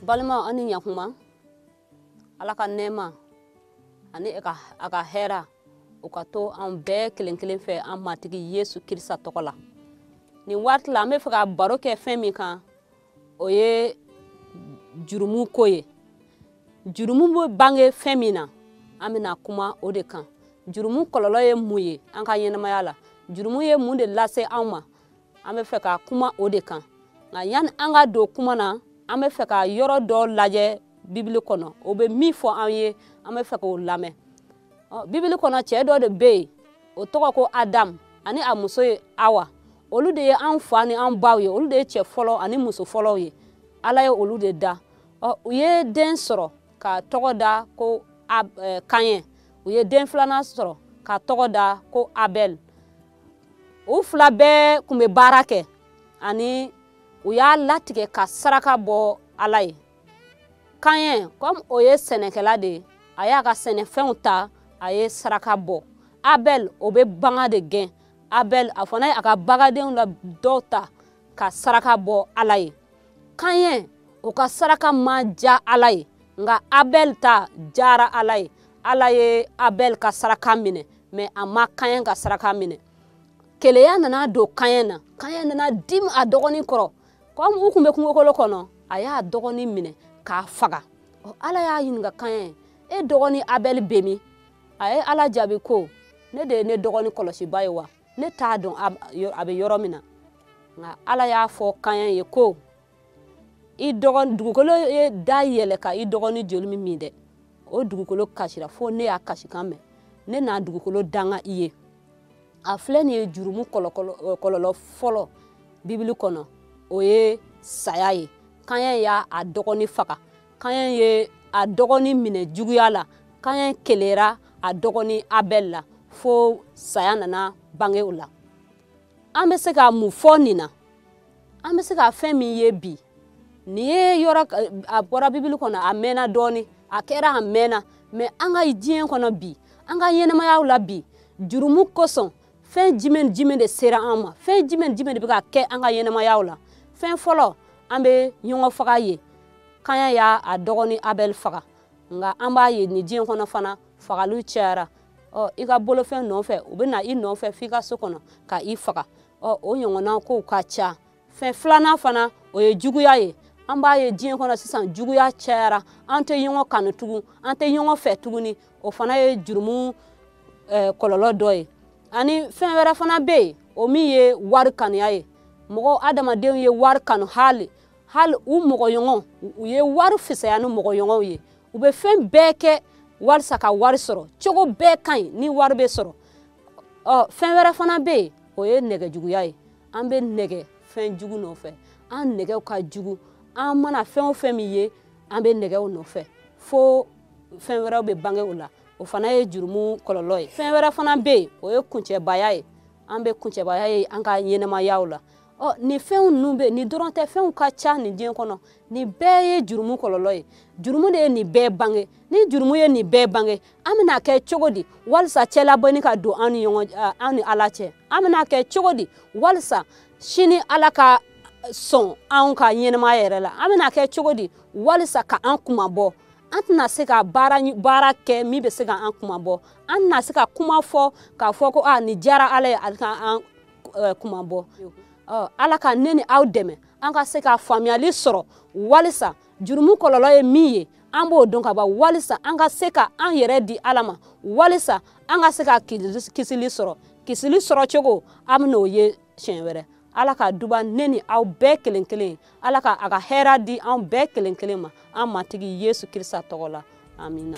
balima an ni ɲakuma ala ka nɛɛma ani a ka hɛra o ka to an bɛɛ kelen kelen fɛ an matigi yesu kirisita tɔgɔ la nin waati la an bɛ fɛ ka baro kɛ fɛn min kan o ye jurumu ko ye jurumu bɛ bange fɛn min na an bɛna kuma o de kan jurumu kɔlɔlɔ ye mun ye an ka ɲɛnamaya la jurumu ye mun de lase anw ma an bɛ fɛ ka kuma o de kan nka yanni an ka don kuma na an bɛ fɛ ka yɔrɔ dɔ lajɛ bibili kɔnɔ o bɛ min fɔ an ye an bɛ fɛ k'o lamɛn bibili kɔnɔ cɛ dɔ de be yen o tɔgɔ ko adam ani a muso ye awa olu de ye an fa ni an baw ye olu de ye cɛ fɔlɔ ani muso fɔlɔw ye ala ye olu de da u ye den sɔrɔ ka tɔgɔ da ko kayɛn u ye den filanan sɔrɔ ka tɔgɔ da ko abɛl u fila bɛɛ kun be baara kɛ ani u y'a latigɛ ka saraka bɔ ala ye kayɛn comme o ye sɛnɛkɛla de ye a y'a ka sɛnɛfɛnw ta a ye saraka bɔ abɛl o bɛ bagan de gɛn abɛl a fana ye a ka bagandenw la dɔw ta ka saraka bɔ ala ye kayɛn o ka saraka ma ja ala ye nka abɛl ta jara ala ye ala ye abɛl ka saraka minɛ mais a ma kayɛn ka saraka minɛ keleya nana don kayɛn na kayɛn nana dimi a dɔgɔnin kɔrɔ kɔmi u kun bɛ kungokolo kɔnɔ a y'a dɔgɔnin minɛ k'a faga ala y'a ɲininka kayɛn e dɔgɔnin abɛl bɛ min a ye ala jaabi ko ne de ye ne dɔgɔnin kɔlɔsiba ye wa ne t'a dɔn a bɛ yɔrɔ min na nka ala y'a fɔ kayɛn ye ko i dɔgɔnin dugukolo ye da yɛlɛ ka i dɔgɔnin joli min min dɛ o dugukolo kasira fo ne y'a kasikan mɛn ne na dugukolo danga i ye a filɛ nin ye jurumu kɔlɔlɔ fɔlɔ bibili kɔnɔ o ye saya ye kayɛn y'a a dɔgɔni faga kayɛn ye a dɔgɔni minɛ juguya la kayɛn kelera a dɔgɔni abɛl la fo saya nana bange o la an bɛ se ka mun fɔ nin na an bɛ se ka fɛn min ye bi nin ye yɔrɔ a bɔra bibili kɔnɔ a mɛnna dɔɔni a kɛra a mɛnna mais an ka diɲɛ kɔnɔ bi an ka ɲɛnamayaw la bi jurumu kosɔn fɛn jumɛn jumɛn de sera an ma fɛn jumɛn jumɛn de bɛ ka kɛ an ka ɲɛnamayaw la fɛn fɔlɔ an bɛ ɲɔgɔnfaga ye kayɛn y'a a dɔgɔnin abɛl faga nka an b'a ye nin diɲɛ kɔnɔ fana fagaliw cayara ɔ i ka bolofɛn nɔfɛ u bɛ na i nɔfɛ f'i ka so kɔnɔ ka i faga ɔ o ɲɔgɔnna kow ka ca fɛn filanan fana o ye juguya ye an b'a ye diɲɛ kɔnɔ sisan juguya cayara an tɛ ɲɔgɔn kanu tugun an tɛ ɲɔgɔn fɛ tuguni o fana ye jurumu eh, kɔlɔlɔ dɔ ye ani fɛn wɛrɛ fana bɛ yen o min ye wari kanuya ye mɔgɔ adamadenw ye wari kanu hali hali u mɔgɔɲɔgɔn u ye wari fisaya ni mɔgɔɲɔgɔnw ye u bɛ fɛn bɛɛ kɛ walisa ka wari sɔrɔ cogo bɛɛ ka ɲi ni wari bɛ sɔrɔ ɔ fɛn wɛrɛ fana bɛ yen o ye nege juguya ye an bɛ nege fɛn jugu nɔfɛ an negew ka jugu an mana fɛn o fɛn min ye an bɛ nege o nɔfɛ fo fɛn wɛrɛw bɛ bange o la o fana ye jurumu kɔlɔlɔ ye fɛn wɛrɛ fana bɛ yen o ye kuncɛbaya ye an bɛ kuncɛbaya ye an ka ɲɛnɛmayaw la ɔ nin fɛnw ninnu bɛɛ nin dɔrɔn tɛ fɛnw ka ca nin diɲɛ kɔnɔ nin bɛɛ ye jurumu kɔlɔlɔ ye jurumu de ye nin bɛɛ bange ni jurumu ye nin bɛɛ bange an bɛna kɛ cogo di walisa cɛlabɔni ka don an ni ɲɔgɔn eh, an ni ala cɛ an bɛna kɛ cogo di walisa sini ala ka eh, sɔn anw ka ɲɛnɛmaya yɛrɛ la an bɛna kɛ cogo di walisa ka an kunmabɔ an tɛna se ka baara baara kɛ min bɛ se ka an kunmabɔ an tɛna se ka kuma fɔ k'a fɔ ko nin diyara ala ye ala ka an eh, kunmabɔ ala ka ne ni aw dɛmɛ an ka se ka faamuyali sɔrɔ walisa jurumu kɔlɔlɔ ye min ye an b'o dɔn ka ban walisa an ka se ka an yɛrɛ di ala ma walisa an ka se ka kisili sɔrɔ kisili sɔrɔ cogo an bɛn'o ye siɲɛ wɛrɛ ala ka duba ne ni aw bɛɛ kelen kelen ye ala ka a ka hɛra di an bɛɛ kelen kelen ma an matigi yesu krista tɔgɔ la amina